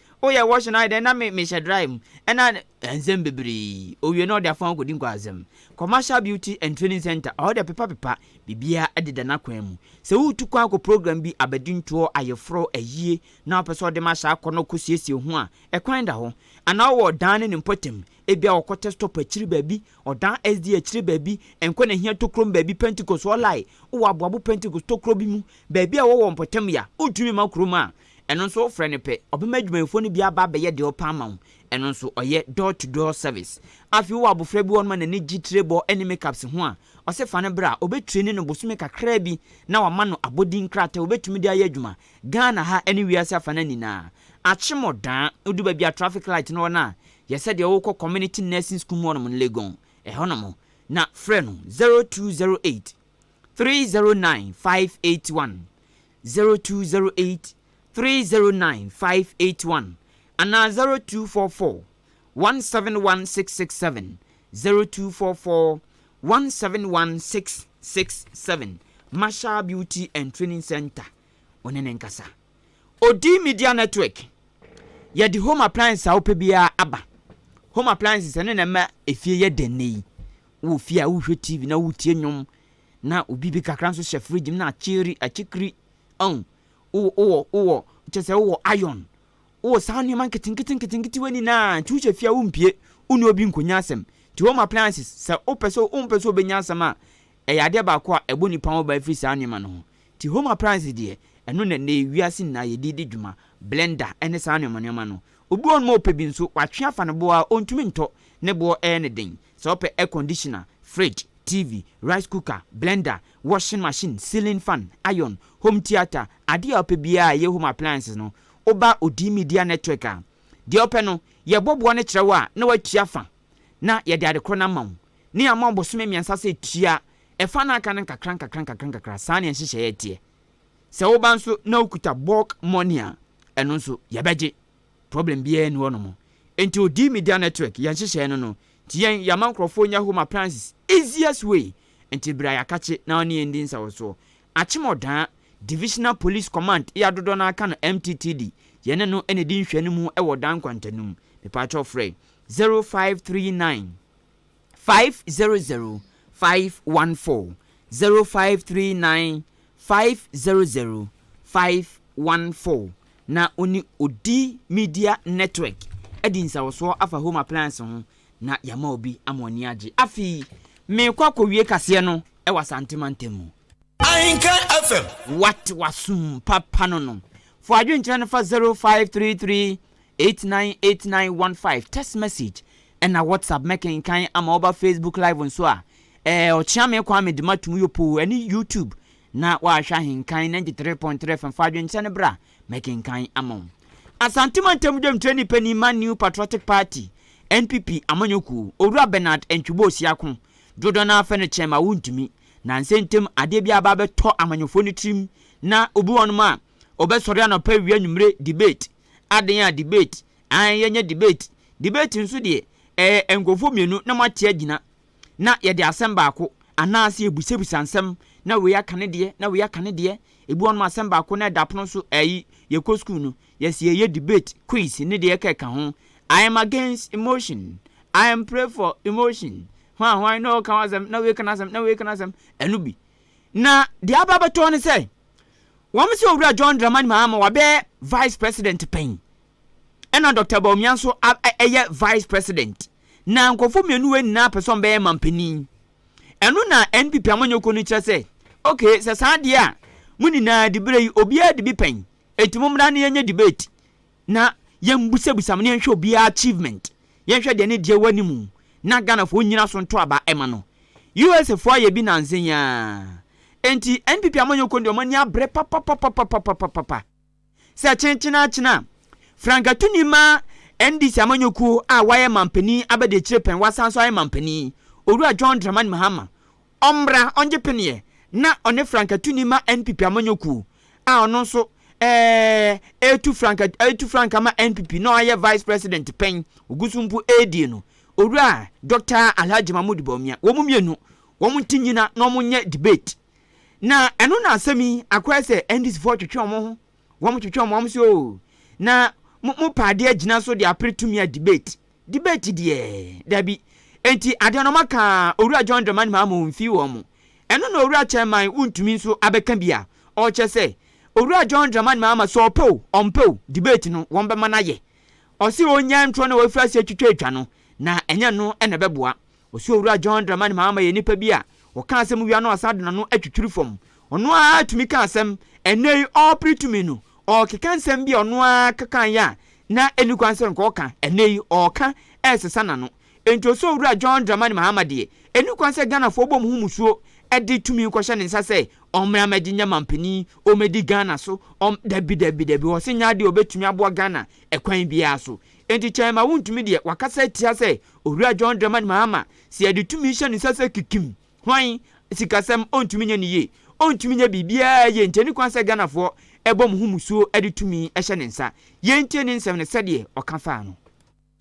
O yɛ wɔhye no ayɛ dɛn na me mehyɛ dry mu ɛna ɛnsɛm bebree owie na ɔde afɔn akɔdi nkwasɛm commercial beauty and training center ɔhɔ deɛ pepa pepa biribiara ɛdeda n'akwan mu sɛ woretu kwan akɔ program bi abadintoɔ ayeforɔ ayie na wopɛ sɛ ɔde ma hyɛ akɔ na ɔkɔ siesie ho a ɛkwan da hɔ anaa ɔwɔ ɔdan ne ne mpɔtam ebia ɔkɔ test stop akyiri baabi ɔdan SD akyiri baabi ɛnkɔ na hia tokrom baabi Pentecost ɔlae wowɔ aboabo Pentecost tokuro bi mu baabi a wɔwɔ mpɔtam ya wontumi ma kurom a Ɛno nso wofrɛ no pɛ, ɔbɛma adwumayɛfoɔ no bi aba abɛyɛ deɛ ɔpɛ ama wo. Ɛno nso ɔyɛ door to door service. Afei wowɔ abofra bi wɔ hɔnom a n'ani gye tirebɔ ne makeups ho a, ɔse fa no bra, ɔbɛ traini no bosome kakraa bi na wama no abɔdin krataa a ɔbɛtumi de ayɛ adwuma Ghana ha ne wiase afa no nyinaa. Akyemɔdaa, wodu baabi a traffic light no wɔ no a, yɛ sɛdeɛ wokɔ Community Nursing School mu hɔnom no, Legon, ɛhɔnom na frɛ no 0208 309 581, zero two zero eight three zero nine five eight one anaa zero two four four one seven one six six seven zero two four four one seven one six six seven Marshall Beauty and Training Centre ɔne ne nkasa Odi Media Network yɛde home appliances a wopɛ biara aba home appliances ɛne na ɛma efie yɛ dɛ nnɛ yi wɔ fie a wohwɛ TV na wotie nnwom Na obi bi kakra nso hyɛ fridge mu na akyiri akyikiri ɔn wo wɔ wo wɔ kyɛ sɛ wo wɔ iron wo wɔ saa nneɛma nketenkete nketenketewa nyinaa nti wohyɛ fie a wompie wo ne obi nkonya asɛm nti home appliances sɛ wopɛ sɛ wompɛ sɛ obenya asɛm a ɛyɛ adeɛ baako a ɛbɔ nipa ho ban firi saa nneɛma no ho nti home appliances deɛ ɛno na ɛnɛ wiase nyinaa yɛde di dwuma blender ɛne saa nneɛma nneɛma no obi wɔ hɔ nom a ɔpɛ bi nso watwe afa ne boɔ a ɔntumi ntɔ ne boɔ ɛyɛ ne den Sɛ wopɛ air conditioner, fridge, TV, rice cooker, blender, washing machine, ceiling fan, iron, home theatre, adeɛ a wopɛ biara a ɛyɛ home appliances no, woba Odii Media Network a, deɛ wopɛ no, yɛbɔ boɔ no kyerɛ wo a na woatua fa na yɛde adekorɔ no ama wo. Ne yɛama wo bosome mmiɛnsa sɛ tua ɛfa no a aka no nkakra nkakra nkakra nkakra. Saa na yɛn nhyehyɛeɛ teɛ. Sɛ woba nso na wokuta bulk money a, ɛno nso, yɛbɛgye. Problem biaa nni hɔ nom. Nti odii media network yɛ nhyehyɛɛ no no nti yɛn yɛama nkorɔfoɔ nya home appliances easiest way nti bra yɛakakye na ɔne yɛn ndi nsawɔsoɔ. Akyem ɔdaa Divisional Police Command ia dodɔ no ara ka no MTTD yɛne no na ɛdi nhwɛanimu wɔ ɔdaa nkwantanum. Mepaakyɛw frɛ zero five three nine. five zero zero five one four zero five three nine five zero zero five one four na ɔne odi media network adi nsawɔsoɔ afa home appliance ho na yɛama obi ama ɔni agye afei meekɔ akɔwie kaseɛ no ɛwɔ asante mantam mu Ahinka FM. What wasum papa no no. For adwenkyerɛ no fa 0533 Eight nine eight nine one five text message ɛna WhatsApp mɛkenkan ama woba Facebook live nso a ɛɛ Ɔkyeame Kwame de ma tum yopoo ɛne YouTube na woahwɛ ahenkan ninety three point three FM fa adwenkyɛ no bra mɛkenkan ama wo Asante Mantam Dwamtirani Panin ma New Patriotic Party, NPP, Amanyɔkuo, Owura Bernard Antwibo Osiako, dodoɔ no ara fɛ no kyɛn ma wontumi, nansɛ ntam adeɛ biara aba abɛtɔ amanyɔfoɔ no tirim na obi wɔ hɔnom a ɔbɛsɔre anɔpa awia anwummere debate, Aden a debate ae yɛnyɛ debate debate nso deɛ ɛyɛ nkurɔfoɔ mmienu na moate agyina na yɛde asɛm baako anaase yɛbusabisa nsɛm na wei aka ne deɛ na wei aka ne deɛ ebi wɔ nom asɛm baako na ɛda pono so ayi yɛkɔ school no yɛse yɛyɛ debate quiz ne deɛ ɛka ɛka ho I am against emotion I am pray for emotion hwan hwan na ɔka w'asɛm na wei ka n'asɛm na wei ka n'asɛm ɛno bi na deɛ aba abɛtɔ ne sɛ Wɔasɛ Owura John Dramani Mahama wabɛyɛ Vice President pɛn, ɛna Dɔkta Bawumia nso ayɛ Vice President, na nkurɔfoɔ mmienu wei nyinaa pɛ sɛ wɔbɛyɛ mampanin. Ɛno na NPP amanyɔkuo no kyerɛ sɛ, okay, sɛ saa deɛ a, mo nyinaa diberɛ yi, obiara di bi pɛn, enti mommra na yɛnyɛ debate. Na yɛnbusabusam na yɛnhwɛ obiara achievement, yɛnhwɛ deɛ ne deɛ wɔ anim na Ghanafoɔ nnyina so nto aba mma no. USA foɔ ayɛ bi nansa yi ara. Enti NPP amanyɔkuo no deɛ wɔn ani abere papapapapapapapa. Sɛ kyenkyenaakyena a, frankatuni ma NDC amanyɔkuo a wayɛ manpanin abɛdeakyire pɛn wasan nso ayɛ manpanin, Owura John Dramani Mahama, Ɔmbra ɔngye peneɛ na ɔne franka tuni ma NPP amanyɔkuo a ɔno nso ɛɛɛ ɛɛtu franka ɛɛtu franka ma NPP na ɔayɛ vice president pɛn ɔguso mpo ɛɛdie no Owura Doctor Alhaji Mahmood Bawumia wɔn mmienu wɔn nte nyina na wɔn nyɛ debate na ɛno na asɛm yi akɔyɛ sɛ NDCfoɔ retwetwe wɔn ho Wɔn twetwe wɔn wɔn se oo na mo mo pɛ adeɛ agyina so de apere tumi a debate debate deɛ dabi enti adeɛ no ɔma kaa owura John Dramani Mahama oo mfii wɔn mo ɛno na owura chairman wo ntumi nso abɛka bi a ɔkyɛ sɛ owura John Dramani Mahama sɛ ɔpɛ oo ɔmpɛ oo debate no wɔn bɛma no ayɛ ɔse ɔnyaa ntorɔ na wafiri aseɛ twitwa atwa no na ɛnyɛ no na ɛbɛboa Ɔsoro Wura John Dramani Mahama yɛ nnipa bi a ɔka asɛm wia na ɔsan de n'ano atwitwiri fam. Ɔno ara tumi ka asɛm. Ɛnnɛ yi, ɔrepere tumi no, ɔrekeka nsɛm bi a ɔno ara ka kaeɛ a na ɛnni kwan sɛ nka ɔka. Ɛnnɛ yi, ɔreka resesa n'ano. Enti Ɔsoro Wura John Dramani Mahama deɛ, ɛnni kwan sɛ Ghanafoɔ bɔ mo ho musuo de tumi kɔhyɛ ne nsa sɛ ɔmmra mmɛgye nyɛ manpanin, ɔmmɛdi Ghana so, ɔm, dabi, dabi, dabi, ɔse nyɛ adeɛ a ɔbɛtumi aboa Ghana ɛkwan biara so. Enti kyɛe ma wontumi deɛ wakasa atia sɛ Owura John Dramani Mahama sɛ yɛde tumi hyɛ ne nsa sɛ kikim, hwan, sikasɛm, ɔntumi nyɛ ne yie, ɔntumi nyɛ biribiara yie nti ɛni kwan sɛ Ghanafoɔ bɔ mo ho musuo de tumi hyɛ ne nsa. Yɛntie ne nsɛm no sɛdeɛ ɔka faa no.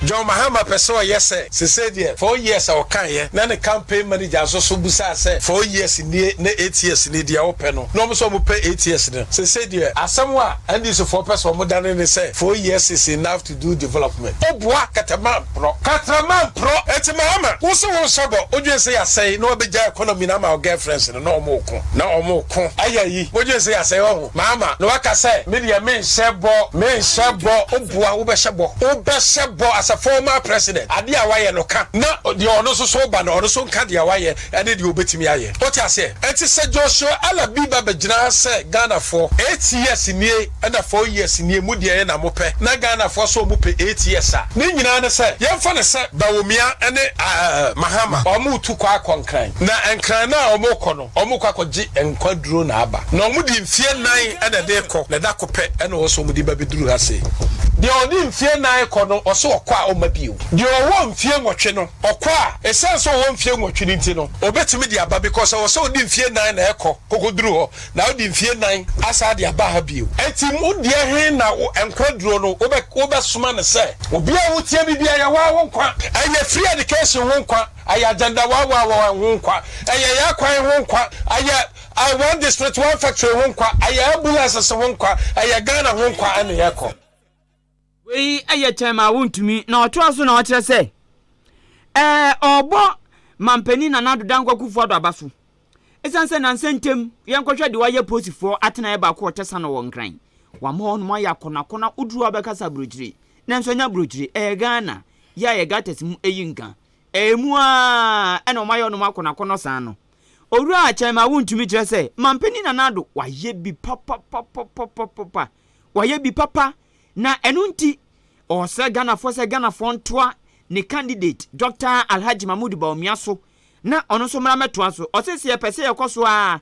John Mahama pɛ sɛ ɔyɛ sɛ sesei deɛ four years a ɔkaeɛ na ne campaign manager nso so bisaa sɛ four years nie na eight years nie deɛ wopɛ no na wɔn nso wɔpɛ eight years no sesei deɛ asɛm a NDC foɔ pɛ sɛ ɔmo dane ne sɛ four years is enough to do development obua kɛtɛmanprɔ. Kɛtɛmanprɔ ɛti Mahama wo se wo nhyɛ bɔ wo dwen se yasɛe na wabɛgya economy no ama wo girlfriends no na ɔmo reko na ɔmo reko ayɛ ayi wo dwen se yasɛe wahu Mahama na waka sɛ me deɛ me nhyɛ bɔ me nhyɛ bɔ obua wo bɛhyɛ bɔ wo bɛhyɛ bɔ as a former president adeɛ a wayɛ no ka na deɛ ɔno nso so ba no ɔno nso nka deɛ wayɛ ne deɛ ɔbɛtumi ayɛ. Wote aseɛ? Enti sɛ Joshua Alabi ba bɛgyina ha sɛ Ghanafoɔ, eight years nie ɛna four years nie, mo deɛ na mo pɛ, na Ghanafoɔ nso wɔn pɛ eight years a, ne nyinaa ne sɛ, yɛmfa no sɛ Bawumia ne Mahama wɔn retu kɔ akɔ Nkran, na Nkran no a wɔn rekɔ no, wɔn rekɔ akɔgye nkwa duro na aba, na wɔn de mfie nan na ɛde rekɔ, na da ko pɛ na wɔn nso wɔn de ba bɛduru ha sei. Deɛ ɔde mfie nan rekɔ no, ɔse ɔkɔ a ɔmma bio. Deɛ ɔwɔ mfie nwɔtwe no, Ɔkɔ a, esiane sɛ ɔwɔ mfeɛ nwɔtwe no nti no, ɔbɛtumi de aba because ɛwɔ sɛ ɔde mfeɛ nnan na ɛkɔ kɔkɔduru hɔ na ɔde mfeɛ nnan asan de aba ha bio. Enti mo deɛ he na nkwa duro no wobɛsoma no sɛ? Obi a wotia me biaa, ɛyɛ waa wo nkwa. Ɛyɛ free education ho nkwa, ɛyɛ agenda waa waa waa ho nkwa, ɛyɛ yɛ akwan ho nkwa, ɛyɛ one district one factory ho nkwa, ɛyɛ ambulances ho nkwa, ɛyɛ Ghana ho nkwa ɛne ɛkɔ. Wei yɛ kyɛm a wontumi. Na ɔtoa so na ɔkyerɛ sɛ, ɛɛ ɔrebɔ Manpanin Nana Addo Dankwa Akufo-Addo aba so esiane sɛ nnansa ntam yɛnkɔhwɛ deɛ wayɛ Polisifoɔ atenaeɛ baako wɔ Tɛsano wɔ Nkran. Wama hɔnom ayɛ akɔnakɔna, woduru hɔ a bɛka sɛ aburokyire, nanso ɛnyɛ aburokyire, ɛyɛ Ghana, yɛ a yɛ gutters mu yi nka. Ɛmu ara ɛna wɔayɛ hɔnom akɔnakɔnɔ saa no. Owura Kyɛm a wontumi kyerɛ sɛ Manpanin Nana Addo wayɛ bi papapapapapapa. wayɛ bi papa na ɛno nti ɔsrɛ Ghanafoɔ sɛ Ghanafoɔ ntoa ne candidate Doctor Alhaji Mahmood Bawumia so na ɔno nso mmra mmɛtoa so. Ɔse sɛ yɛpɛ sɛ yɛkɔ so ara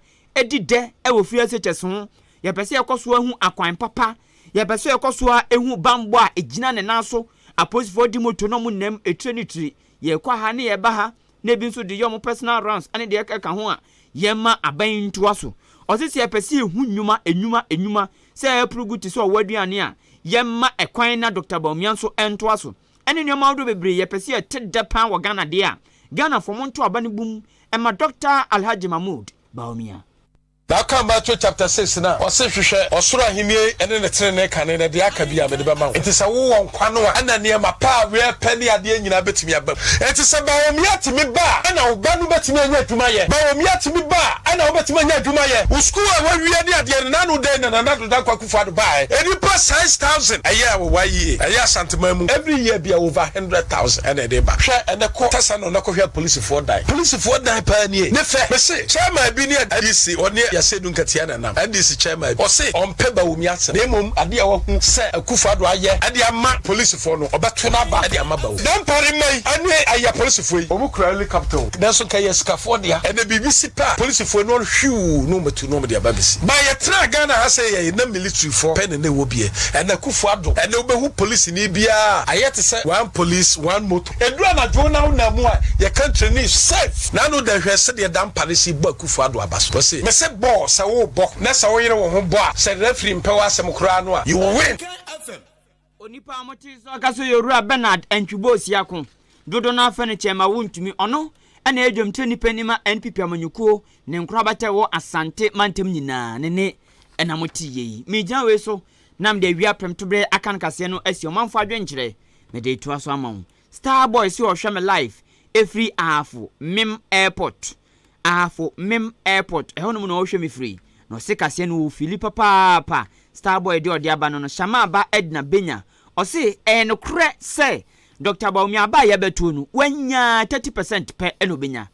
di dɛ wɔ Fresh ho, yɛpɛ sɛ yɛkɔ so ara hu akwan papa, yɛpɛ sɛ yɛkɔ so ara hu bammɔ a ɛgyina ne nan so, apolisifoɔ di moto na wɔnam tire ne tire yɛkɔ ha ne yɛba ha na ebi nso de yɛ wɔn personal rounds ne deɛ ɛka ho a, yɛmma aban yi ntoa so. Ɔse sɛ yɛpɛ sɛ yɛhu nnwuma, nnwuma, nnwuma sɛ ɛreporo gu te sɛ ɔwɔ aduane a, yɛmma ɛkwan na Dɔkta Bawumia nso ntoa so. Ɛne nneɛma ahodoɔ bebree yɛpɛ sɛ yɛte dɛ paa wɔ Ghana deɛ a, Ghanafoɔ monto aba no bum mma Dɔkta Alhaji Mahmood Bawumia. Na ɔkaa Matthew chapter six no a, ɔse, Hwehwɛ ɔsoro ahennie ne ne tenenee kane, na deɛ aka biara mede bɛma wo. Enti sɛ wowɔ nkwa no a, ɛna nneɛma pa a wɛɛpɛ ne adeɛ nyinaa bɛtumi aba mu. Enti sɛ Bawumia tumi ba a, ɛna wo ba no bɛtumi anya adwuma ayɛ. Bawumia tumi ba a, ɛna wobɛtumi anya adwuma ayɛ. Wo sukuu a woawie ne adeɛ no, n'ano dɛn na Nana Addo Dankwa Akufo-Addo baeɛ? Nnipa size thousand ɛyɛ wɔ YEA, ɛyɛ Asanteman mu. Every year biara, over hundred thousand ɛna ɛde ba. Hwɛ ɛnnɛ, kɔ Tɛsɛ North. no na kɔhwɛ apolisifoɔ dan. Polisifoɔ dan paa nie. Ne fɛ. Me se chairman bi ne NDC ɔne Yasedu Nkatia na nam. NDC chairman bi. Ɔse ɔmpɛ Bawumia asem. Na mmom adeɛ a wahu sɛ Akufo Addo ayɛ de ama polisifoɔ no, ɔbɛto no aba de ama Bawumia. Dampare mma yi ne ayɛ apolisifoɔ yi. Wɔn kura helicopter o. Nanso nka ɛyɛ asikafoɔ dea. Ɛnɛ biribi si pɛ a, polisifoɔ ani ɔn hwiuu na wɔn atu na wɔn de aba abesi. Ba yɛtenaa Ghana ha sɛɛ yɛe na militirifoɔ pɛ na na ɛwɔ bie. Ɛnɛ Akufo Addo. Ɛnɛ wobɛhu polisini biara a, ayɛ te sɛ one police, one motor. Edu anadwo na wo nan mu a, yɛka nkyerɛ no is safe. N'ano dɛ hwɛ sɛdeɛ Dampare si bɔ Akufo Addo aba so. Ɔse. Mese bɔ sɛ wo bɔ na sɛ wo yere wo ho bɔ a sɛ referee mpɛ w'asɛm koraa no a you will win. Onipa a mote so aka so yɛ Owura Bernard Antwibo Osiako. Dodow no ara frɛ no Kyɛrema Wontumi. Ɔno na ɛyɛ dwamkyerɛ nipa ni ma NPP amanyɔkuo, ne nkorabata a ɛwɔ Asante mantam nyinaa ne ne na mote yei. Megyina wei so na mede awia prɛmtoberɛ aka no kaseɛ no asi ɔmanfoɔ adwenkyerɛ mede atoa so ama wo. Starboy se ɔhwɛ me live ɛfiri Ahafo Mim Airport Ahafo Mim Airport ɛhɔ nom na ɔhwɛ me firi na ɔse kaseɛ no wɔ fili papaapa Starboy deɛ ɔde aba no no Shammah ba Edna bɛnya ɔse ɛyɛ nokorɛ sɛ Doctor Bawumia aba a yɛbɛtoɔ no wanyaa thirty percent pɛ na ɔbɛnya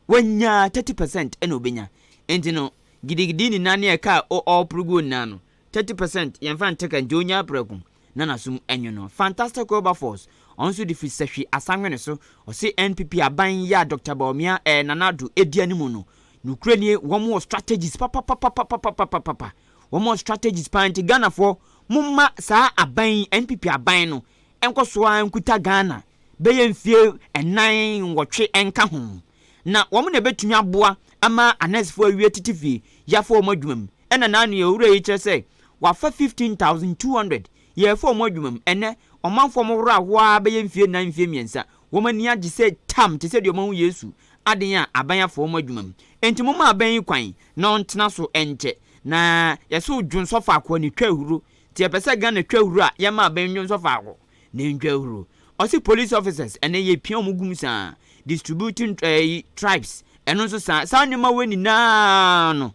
Wanya thirty percent na obenya nti no gidigidi nyinaa ne ɛka a ɔreporo guo nyinaa no thirty percent yɛnfa ntɛka nti ɔnyaa prɛko na n'asom anwu no. Fantastic Wilberforce ɔno nso de firi sahwi asanwene so ɔse NPP aban yi a Doctor Bawumia ɛɛ Nana Addo ɛdi animu no nokorɛ nie wɔn wɔ strategies papapapapapapapapa wɔn wɔ strategies paa nti Ghanafoɔ momma saa aban yi NPP aban no Nkɔ so ara nkuta Ghana bɛyɛ mfeɛ nnan nwɔtwe nka ho, na wɔn na ɛbɛtumi aboa ama anɛsfoɔ awie tete fie yafoɔ wɔn adwuma mu. Ɛna naa nea owura yi kyerɛ sɛ wafa fifteen thousand two hundred yɛɛfɔ wɔn adwuma mu, ɛnɛ ɔmanfoɔ wɔn horo ahoa ara bɛyɛ mfeɛ nnan mfeɛ mmiɛnsa wɔn ani agye sɛ tam te sɛ deɛ wɔn ahu Yesu aden a aban afa wɔn adwuma mu. Enti momma aban yi kwan na ɔntena so nkyɛ na yɛse odwonsɔ faako a ne twa ahuro Nti yɛpɛ sɛ Ghana twa huru a yɛma aban nnwo nsɔ faako na ɛntwa huru. Ɔse police officers ɛnɛ yɛpia ɔmo gu mu saa, distributing ɛyi tripes ɛno nso saa. Saa nneɛma wei nyinaa no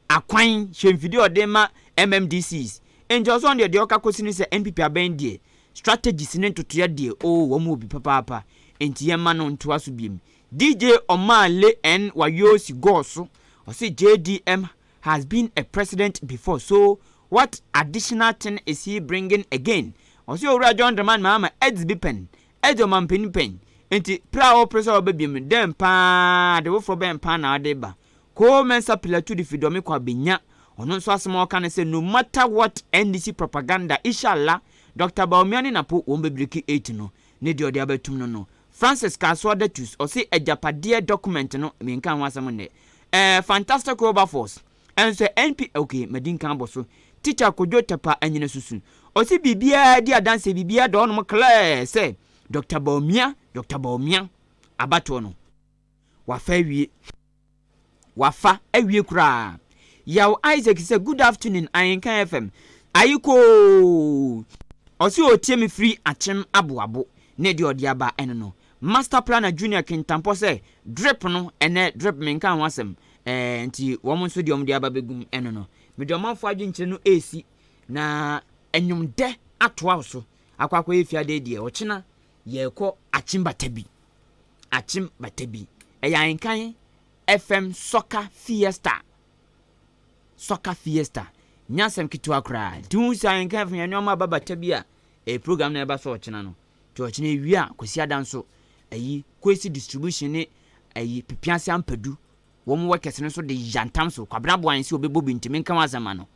akwan hyɛ mfidie a ɔde ma MMDCs. Nti ɔsɔn deɛ deɛ ɔka kɔsi ne sɛ NPP aban deɛ strategies ne ntotoeɛ deɛ oo wɔn wɔ bi papaapa. Nti yɛmma no ntoa so biom. DJ Omah le en wayoo si gɔɔ so ɔse JDM has been a president before so what additional thing is he bringing again ɔse owura John Dramani Mahama adzi bi pɛn adzi ɔmanpanin pɛn nti pere a ɔpere sɛ ɔbɛba biom no dɛn paa ade foforɔ bɛn paa na ɔde reba Koo Mensah Pilatu de fidɔme kɔ abenya ɔno nso asɛm a ɔka ne sɛ no matter what NDC propaganda ishallah Doctor Bawumia ne Napo wɔn bɛbreki ate no ne deɛ ɔde abɛtum no no, Francis Kasoa Datus, ɔse agyapadeɛ document no menkaa ho asɛm nnɛ. Ɛɛ Fantastic Wilberforce ɛnsɛ NP ok madi nkan abɔ so. Teacher Kojo Tɛpa Anyinasusu, ɔse biribiara di adanseɛ biribiara da hɔnom clear sɛ Doctor Bawumia Doctor Bawumia abatoɔ no wafa awie. Wafa awie koraa. Yaw Isaac sɛ good afternoon Ahenka FM. Aye koo! Ɔse ɔretie me firi Akyem Aboabo ne deɛ ɔde aba ɛno no. Master Planner Junior Kintampɔ sɛ drip no ɛnɛ drip menkaa ho asɛm eh, nti wɔn nso deɛ wɔde aba bɛgum ɛno no. Mede ɔmanfoɔ adwenkyerɛ no resi na nnwomdɛ atoa so akɔ akɔyɛ fiadɛ deɛ ɔkyena yɛrekɔ Akyem Batabi. Akyem bata bi, ɛyɛ Ahenkan FM Soccer Fiesta. Soccer Fiesta. Nyɛ asɛm ketewa koraa. Nti wohu sɛ Ahenkan FM yɛ nneɛma aba bata bi a, ɛyɛ program na ɛba so ɔkyena no. Nti ɔkyena awia a, Kwasiada nso, ayi, Kwesi Distribution ne ayi, Pepease Ampadu, wɔn workers no nso de yantam so, Kwabena boa yɛn sɛ ɔbɛbɔ bi nti menka ho asɛm ma no.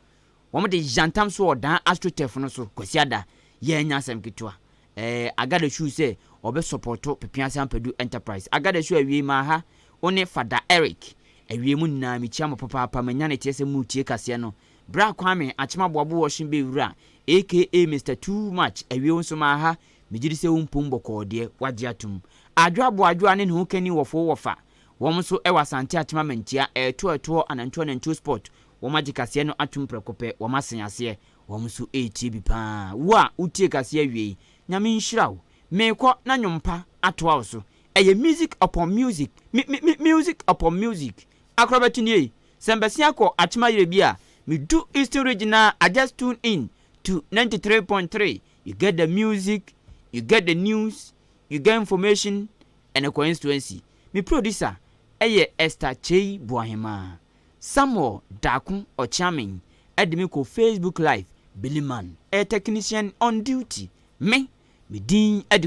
Wɔde yantam soɔɔ daa Astrotef no so Kwasiada yɛɛ nyɛ asɛm ketewa. Ɛɛ Agadeshu sɛ ɔbɛ sɔpɔto Pepease Ampadu Enterprise. Agadeshu awiei maa ha wo ne Fada Eric. Awiei mo nyinaa mekyia mo papaapa manya ne teɛ sɛ mo retie kaseɛ no. Berɛ a Kwame Akyemaboabo wɔhye bɛ wura aka Mister Too Much awie wo nso maa ha megyedi sɛ wo mpom bɔkɔɔ deɛ wagye atom. Adwoa Boadwoa ne ne ho kani wɔfoo wɔfaa Wɔn nso wɔ Asante Atema Mantia, ɛɛto ɛtoɔ anantuo anantuo spot, wɔn agye kaseɛ no atom prɛko pɛ, wɔn asen aseɛ, wɔn nso retie bi paa, wo a wo tie kaseɛ awie yi, Nyame nhyira wo, meekɔ na nwom pa atoa wo so, ɛyɛ music upon music, mi mi mi music upon music, akorɔbɛto nie, sɛ mbɛsea kɔ Atema yerɛ bi a, me du Eastern Region a, I just tune in to ninety three point three, you get the music, you get the news, you get information, Ɛne Constituency. Me producer yɛ Esther Kyei Boahemaa. Samuel Daako Ɔkyeamen de me kɔ Facebook Live, Billy Man yɛ technician on duty. Me, me din adi.